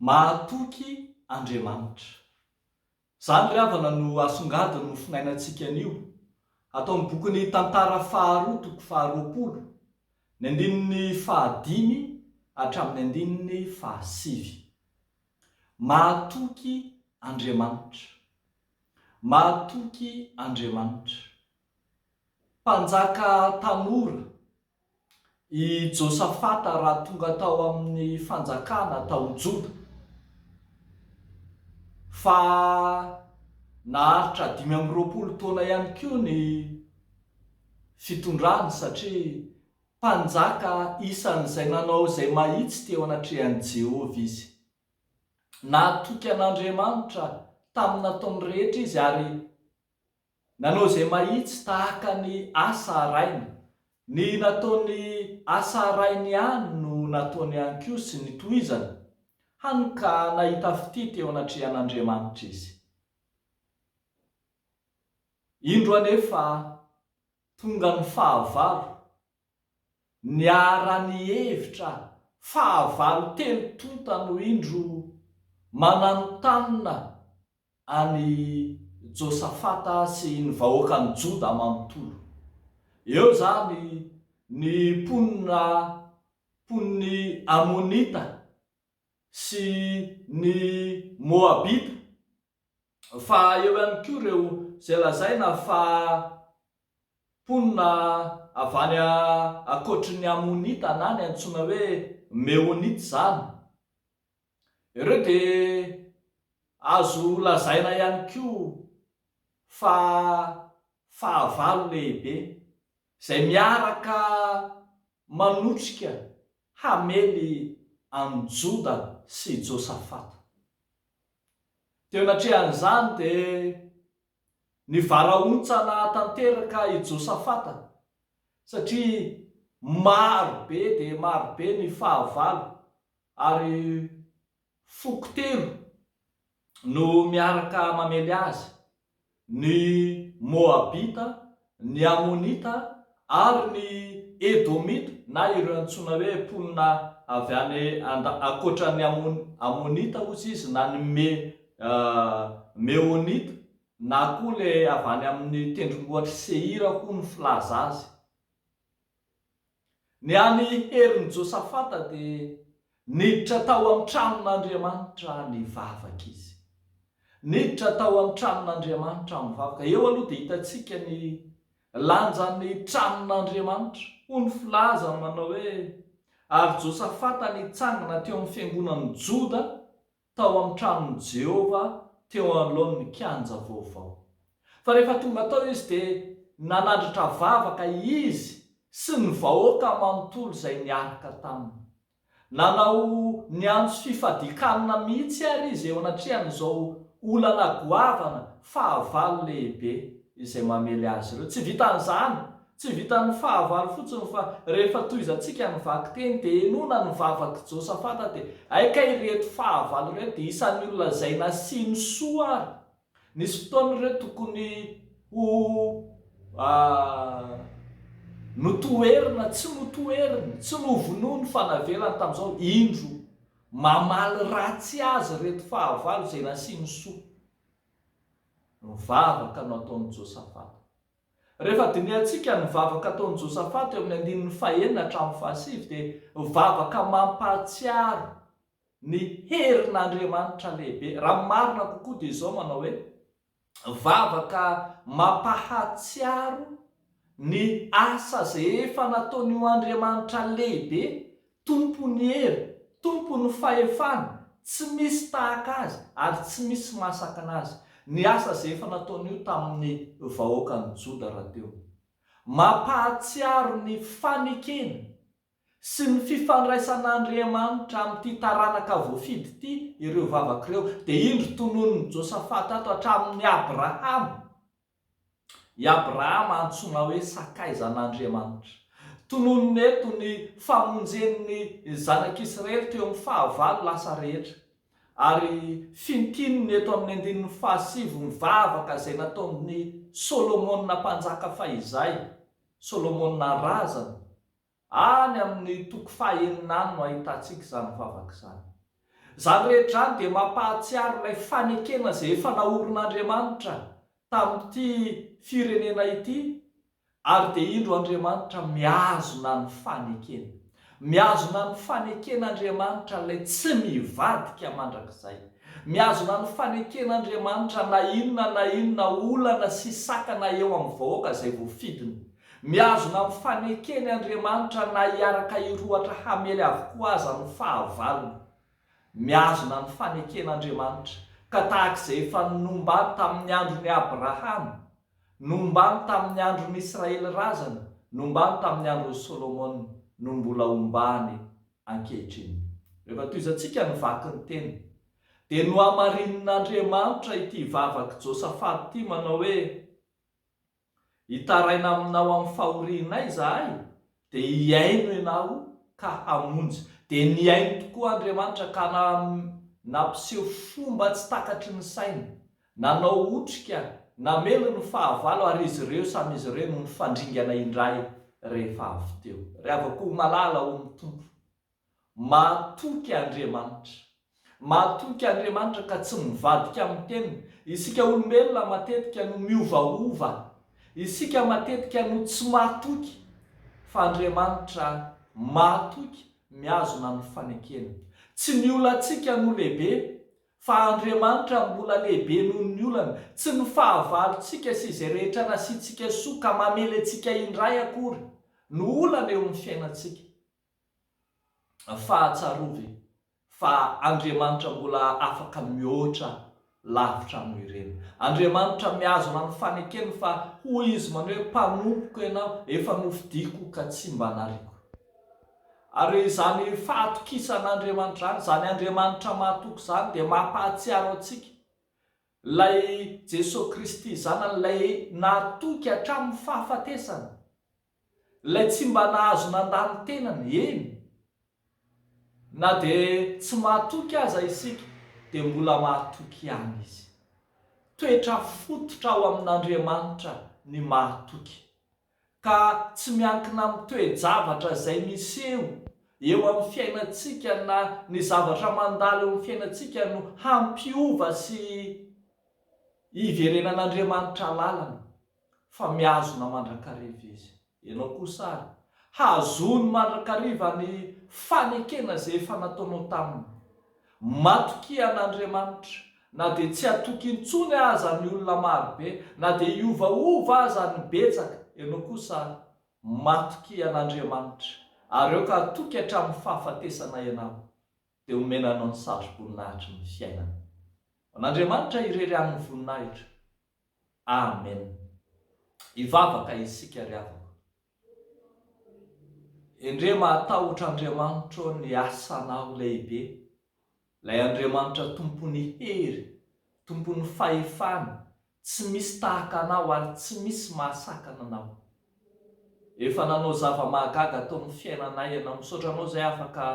Mahatoky Andriamanitra. Izany ry havana no asongadin' io finainantsika anio, ato amin'ny bokin'ny Tantara faharoa toko faharoapolo, ny andininy fahadimy hatramin'ny andininy fahasivy. Mahatoky Andriamanitra. Mahatoky Andriamanitra. Mpanjaka tanora I Josafata raha tonga tao amin'ny fanjakana tao Joda, fa naharitra dimy amby roapolo taona ihany koa ny fitondrany, satria mpanjaka isan'izay nanao izay mahitsy teo anatrehan'i Jehovah izy. Nahatoky an'Andriamanitra tamin'ny nataony rehetra izy, ary Nanao izay mahitsy tahaka ny asa harainy. Ny nataony asa harainy ihany no nataony ihany koa sy ny tohizany, hany ka nahita fitia teo anatrehan'Andriamanitra izy. Indro anefa tonga ny fahavalo Niara-nihevitra fahavalo telo tonta no indro mananontanona an'i Josafata sy ny vahoakan'i Joda manontolo. Eo izany ny mponina mponin'ny Amonita sy ny Moabita. Fa eo ihany koa ireo izay lazaina fa mponina avy any ankoatry ny Amonita na ny antsoina hoe Meonita izany. Ireo dia azo lazaina ihany koa fa fahavalo lehibe izay miaraka manotrika hamely an'i Joda sy Josafata. Teo anatrehan'izany dia nivarahontsana tanteraka i Josafata, satria maro be dia maro be ny fahavalo, ary foko telo no miaraka mamely azy. Ny Moabita, ny Amonita ary ny Edomita na ireo antsoina hoe mponina avy any and ankoatra ny Amonita ozy izy na ny Me Meonita na koa ilay avy any amin'ny tendrombohitr'i Seira hono filaza azy. Ny an'i Herin'i Josafata dia niditra tao amin'ny tranon'Andriamanitra nivavaka izy. Niditra tao amin'ny tranon'Andriamanitra mivavaka. Eo aloha dia hitantsika ny lanjan'ny tranon'Andriamanitra. Hoy ny filazany manao hoe, Ary Josafata nitsangana teo amin'ny fiangonan'ny Joda tao amin'ny tranon'i Jehovah teo anoloan'ny kianja vaovao. Fa rehefa tonga tao izy, dia nanandratra vavaka izy sy ny vahoaka manontolo izay niaraka taminy. Nanao niantso fifadian-kanina mihitsy àry izy eo anatrehan'izao olana goavana fahavalo lehibe izay mamely azy ireo. Tsy vitan'izany, Tsy vitan'ny fahavalo fotsiny fa rehefa tohizantsika ny vakiteny dia henoina ny vavak'i Josafata dia hay kay ireto fahavalo ireto dia isan'ny olona izay nasiany soa ary nisy fotoana ireo tokony ho notoherina tsy notoheriny, tsy novonoiny fa navelany tamin'izao, indro mamaly ratsy azy ireto fahavalo izay nasiany soa ny vavaka nataon'i Josafata. Rehefa dinihantsika ny vavaka ataon'i Josaphat teo amin'ny andininy fahenina hatramin'ny fahasivy dia vavaka mampahatsiaro ny herin'Andriamanitra lehibe. Raha ny marina kokoa dia izao manao hoe, vavaka mampahatsiaro ny asa izay efa nataon'io Andriamanitra lehibe Tompo ny hery, Tompo ny fahefana, tsy misy tahaka Azy ary tsy misy mahasakana Azy. Ny asa izay efa nataony io tamin'ny vahoakan'i Joda rahateo. Mampahatsiaro ny fanekena sy ny fifandraisan'Andriamanitra amin'ity taranaka voafidy ity ireo vavaka ireo. Dia indro tononin'i Josafata ato hatramin'ny Abrahama I Abrahama antsoina hoe sakaizan'Andriamanitra. Tononina eto ny famonjen'ny zanak'Israely teo amin'ny fahavalo lasa rehetra, ary fintinina eto amin'ny andininy fahasivy ny vavaka izay nataon'i Solomona mpanjaka fahizay, Solomona razana. Any amin'ny toko faha enina any no ahitantsika izany vavaka izany. Izany rehetra izany dia mampahatsiaro ilay fanekena izay efa naorin'Andriamanitra tamin'ity firenena ity, ary dia indro Andriamanitra mihazona ny fanekeny. Mihazona ny fanekena Andriamanitra ilay tsy mivadika mandrakizay. Mihazona ny fanekena Andriamanitra na inona na inona olana sy sakana eo amin'ny vahoaka izay voafidiny. Mihazona amin'ny fanekeny Andriamanitra na hiaraka hirohotra hamely avokoa aza ny fahavalony. Mihazona ny fanekena Andriamanitra, ka tahaka izay efa nombany tamin'ny andron'i Abrahama, nombany tamin'ny andron'ny Israely razana, nombany tamin'ny andron'i Solomona, no mbola ombany ankehitriny. Rehefa tohizantsika ny vaky ny teny, dia nohamarinin'Andriamanitra ity vavak'i Josafat ity manao hoe. Hitaraina aminao amin'ny fahorianay izahay, dia hihaino ianao ka hamonjy. Dia nihaino tokoa Andriamanitra ka nampiseho fomba tsy takatry ny sainy, nanao otrika, namely ny fahavalo ary izy ireo samy izy ireo no nifandringana indray rehefa avy teo. Ry havako malala ho ny Tompo. Mahatoky Andriamanitra. Mahatoky Andriamanitra ka tsy mivadika amin'ny teniny. Isika olombelona matetika no miovaova. Isika matetika no tsy mahatoky. Fa Andriamanitra mahatoky, mihazona amin'ny fanekena. Tsy ny olantsika no lehibe, fa Andriamanitra mbola lehibe noho ny olana. Tsy ny fahavalontsika sy izay rehetra nasiantsika soa ka mamely antsika indray akory no olana eo amin'ny fiainantsika. fa tsarovy fa Andriamanitra mbola afaka mihoatra lavitra noho ireny. Andriamanitra mihazona ny fanekeny fa hoy Izy manohy hoe mpanompoko ianao, efa nofidiko ka tsy mba nariako. Ary izany fahatokisan'Andriamanitra izany, izany Andriamanitra mahatoky izany dia mampahatsiaro antsika ilay Jesoa Kristy zanany, ilay nahatoky hatramin'ny fahafatesana. Ilay tsy mba nahazo nandà ny tenany, eny, na dia tsy mahatoky aza isika, dia mbola mahatoky ihany izy. Toetra fototra ao amin'Andriamanitra ny mahatoky, ka tsy miankina amin'ny toe-javatra izay miseho eo amin'ny fiainantsika na ny zavatra mandalo eo amin'ny fiainantsika no hampiova sy hiverenan'Andriamanitra lalana. Fa mihazona mandrakariva izy. Ianao kosa àry, hazony mandrakariva ny fanekena izay efa nataonao taminy. Matokia an'Andriamanitra, na dia tsy hatoky intsony aza ny olona maro be, na dia hiovaova aza ny betsaka. Ianao kosa àry, matokia an'Andriamanitra, ary aoka hatoky hatramin'ny fahafatesana ianao, dia homena anao ny sazi-boninahitry ny fiainana. Ho an'Andriamanitra irery ihany ny voninahitra, Amen hivavaka isika ry havako. Endrey mahatahotra Andriamanitra ô ny asanao lehibe, lay Andriamanitra tompon'ny hery, tompon'ny fahefana, tsy misy tahaka anao ary tsy misy mahasakana anao. Efa nanao zava-mahagaga tao amin'ny fiainanay ianao, misaotra anao izay afaka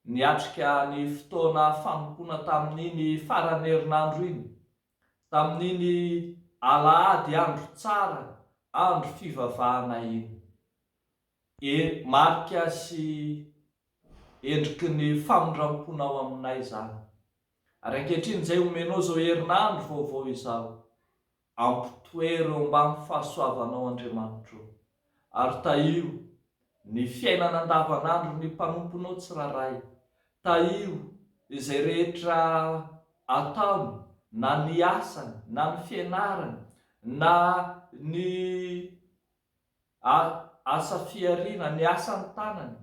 niatrika ny fotoana fanompoana tamin'iny faran'ny herinandro iny. Tamin'iny alahady andro tsara andro fivavahana iny, e marika sy endriky ny famindramponao aminay izany. Ary ankehitriny izay omenao izao herinandro vaovao izao, ampitoero ambany fahasoavanao Andriamanitro. ary tahio ny fiainana andavanandron'ny mpanomponao tsirairay. Tahio izay rehetra ataony, na ny asany, na ny fianarany, na ny asa fihariana, ny asan'ny tanany,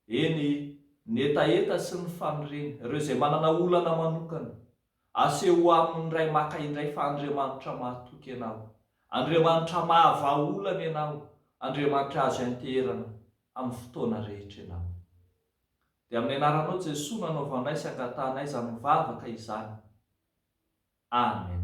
Eny, ny hetaheta sy ny faniriana, ireo izay manana olana manokana, aseho ho amin' ny Ray maka indray fa Andriamanitra mahatoky ianao, Andriamanitra mahavahaolana ianao, Andriamanitra azo ianteherana amin' ny fotoana rehetra ianao. Dia amin' ny anaranao Jesoa no anaovanay sy angatahanay izany mivavaka izany. Amen.